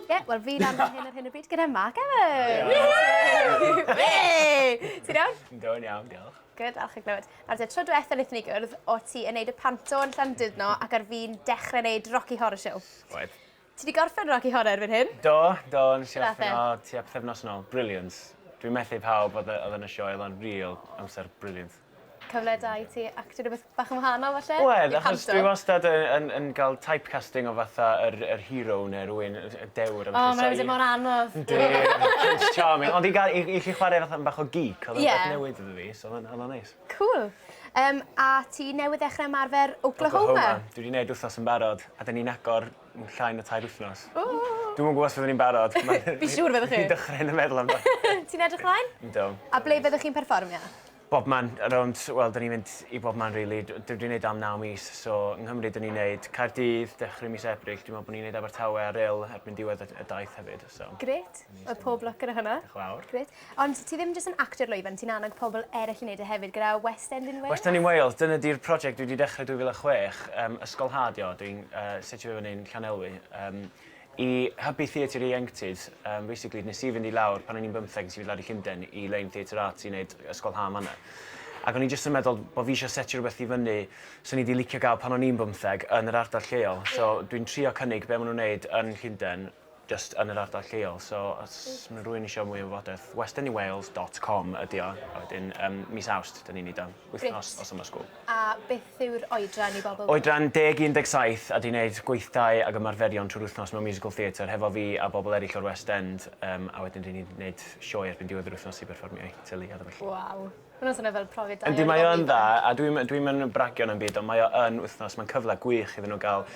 Ie, yeah, wel fi lan fan hyn ar hyn o bryd gyda Mark Evans! Ti'n iawn? Yn do'n iawn, diolch. Good, alch i glywed. Nawr te, tro diwetha wnaethon ni gwrdd, o ti yn neud y panto yn llan dydno ac ar fi'n dechrau neud Rocky Horror Show. Oedd. Ti wedi gorffen Rocky Horror erbyn hyn? Do, do, yn nes i orffen o tua pethefnos yn ôl. Brilliant. Dwi'n methu pawb oedd yn y sioe, oedd o'n real amser brilliant. cyfle da i ti actio rhywbeth bach yn wahanol falle? Wel achos dwi wastad yn yn yn ga'l typecasting o fatha yr yr hero ne' rywun yy y dewr a ballu so i... O ma' wedi mor anodd. Yndi Prince Charming ond i ga'l i i chi chware fatha 'n bach o geek odd o'n beth newydd iddo fi so ma'n odd o'n neis. Cŵl. Yym a ti newydd ddechre ymarfer Oklahoma? Oklahoma. Dwi 'di neud wthnos yn barod a 'dyn ni'n agor m- llai na tair wythnos. Ww. Dwi'm yn gwbo os fyddwn i'n barod ma'... Fi siŵr fyddwch chi. ...fi dychryn yn meddwl amdano fe. Ti'n edrych mlaen? Yndw. A ble fyddwch chi'n perfformio? Bobman, rownd, wel 'da ni'n mynd i bobman rili, dwi 'di neud o am naw mis so yng Nghymru 'da ni'n neud Caerdydd dechre mis Ebrill, dwi'n me'wl bo' ni'n neud Abertawe a Rhyl erbyn diwedd y y daith hefyd so. Grêt! Wel pob lwc gyda hwnna. Dioch y' fawr. Grêt. Ond ti ddim jyst yn actio'r lwyfan, ti'n annog pobl eryll i neud e hefyd gyda West End in Wales? West End in Wales, dyna 'di'r project dwi 'di dechre 2006, yym ysgolhaad 'di o, dwi'n yy setio fe fyny'n Llanelwy, yym I hybu Theatr Ieuenctid, um, basically, nes i fynd i lawr pan o'n i'n bymtheg, nes i fynd lawr i Llundain i Lein Theatr Arts i wneud ysgol ha manna. Ac o'n i jyst yn meddwl bod fi eisiau setio rhywbeth i fyny sy'n i di licio gael pan o'n i'n bymtheg yn yr ardal lleol. Yeah. So dwi'n trio cynnig be maen nhw'n wneud yn Llundain just yn yr ardal lleol. So os mae rhywun eisiau mwy o wybodaeth, westernywales.com ydi o. A wedyn um, mis awst, dyn ni'n ei dan. wythnos o Summer School. A beth yw'r oedran i bobl? Oedran deg i 17 a dwi'n neud gweithdai ag ymarferion trwy'r wythnos mewn musical theatre hefo fi a bobl eraill o'r West End yym a wedyn ry'n ni'n neud sioe erbyn diwedd yr wythnos i berfformio i teulu a felly. Waw. Ma' hwnna'n swnio fel profiad da iawn i bobl ifanc. Yndi mae o'n dda a dwi'm yn dwi'm yn bragio na'm byd ond mae o yn wythnos mae'n cyfle gwych iddyn nhw ga'l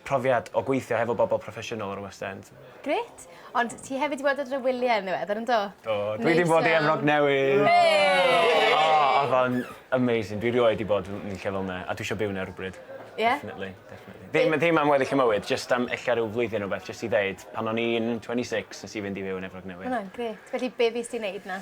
profiad o gweithio hefo bobl proffesiynol o'r West End. Grêt. Ond ti hefyd wedi bod ar y wyliau yn ddiweddar, yn do? Do, dwi wedi bod i Efrog Newydd! Hei! O, oedd o'n amazing. Dwi rioed wedi bod yn lle fel 'na, a dwi eisiau byw 'na rywbryd. Ie? Definitely, definitely. Ddim, ddim am weddill y mywyd, jyst am ella rhyw flwyddyn neu rywbeth, jyst i ddeud, pan o'n i'n 26, nes i fynd i fyw yn Efrog Newydd. Ma' hwnna'n grêt. Felly, be' fues ti'n neud 'na?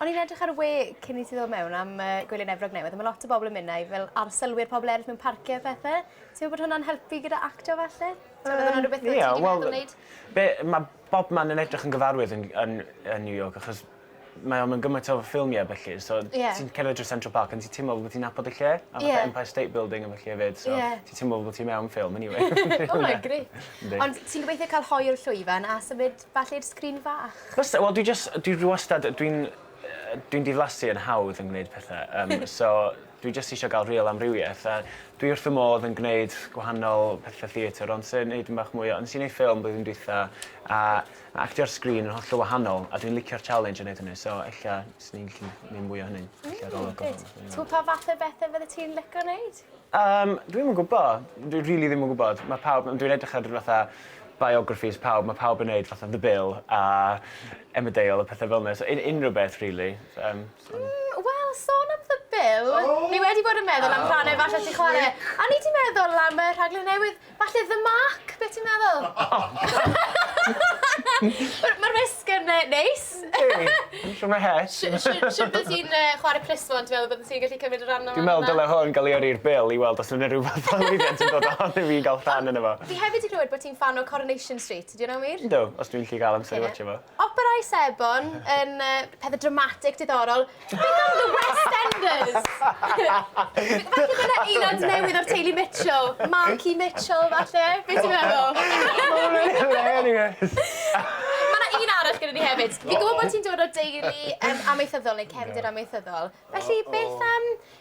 O'n i'n edrych ar y we cyn i ti ddod mewn am yy Gwylyn Efrog newydd a ma' lot o bobol yn myn' 'na i fel arsylwi'r pobol eryll mewn parcie a phethe. Ti'n me'wl bod hwnna'n helpu gyda actio falle? T'mod odd wnna rwbeth odd ti 'di meddwl neud? Be' ma' bobman yn edrych yn gyfarwydd yn yn yn New York achos mae o mewn gymaint o ffilmie a bellu so... Ie. ...ti'n cerdded drwy Central Park and ti timlo fel bo' ti'n nabod y lle. Ie. A fatha Empire State Building a fellu efyd so... Ie. ...ti timlo fel bo' ti mewn ffilm eniwe. O mae grêt. Yndi. Ond ti'n gobeithio ca'l hoyw llwyfan a symud Falle i'r sgrin fach. Fysa wel dwi jyst dwi dwi wastad dwi'n yy dwi'n diflasu yn hawdd yn gwneud pethe yym so dwi jyst isio ga'l rîl amrywieth a dwi wrth fy modd yn gwneud gwahanol pethe theatr ond sy neud yn bach mwy o nes i neud ffilm blwyddyn dwitha a ma' actio ar sgrin yn hollol wahanol a dwi'n licio'r challenge o neud hynny so ella swn i'n gallu neud mwy o hynny. Ella rôl o gwmpas. T'mo' pa fath o bethe fyddet ti'n lico neud? Yym, dwi'm yn gwbo. Dwi rili ddim yn gwbod. Ma' pawb yn... Dwi'n edrych ar ryw fatha biographies pawb ma' pawb yn neud fatha The Bill a Emmerdale a pethe fel 'na so un- unryw beth rili yym so... Mm wel sôn am The Bill... O! ...fi wedi bod yn meddwl am rhanne falle ti chware. O'n i 'di meddwl am y rhaglen newydd Falle The Mark, be ti'n meddwl? Mae'r wisg yn neis. Yndi, yn siwr mae het. Siwr bydde ti'n chwarae plismon, ti'n meddwl bydde ti'n gallu cymryd rhan yma? Dwi'n meddwl dyle hwn gael ei yrru i'r Bil i weld os yna rhywbeth fel Eifion sy'n dod ohono fi i gael rhan yno fo. Fi hefyd 'di clywed bod ti'n ffan o Coronation Street, ydy hwnna'n wir? Yndw, os dwi'n gallu cael amser i watsio fo. Operâu sebon yn pethau dramatig, diddorol. Beth am The West Enders? Falle bod yna aelod newydd o'r teulu Mitchell, Marky Mitchell falle? Be ti'n meddwl? Mae hwnna'n hilarious! Mae yna un arall gyda ni hefyd. Fi'n gwybod bod ti'n dod o deulu amaethyddol neu cefndir amaethyddol, felly beth am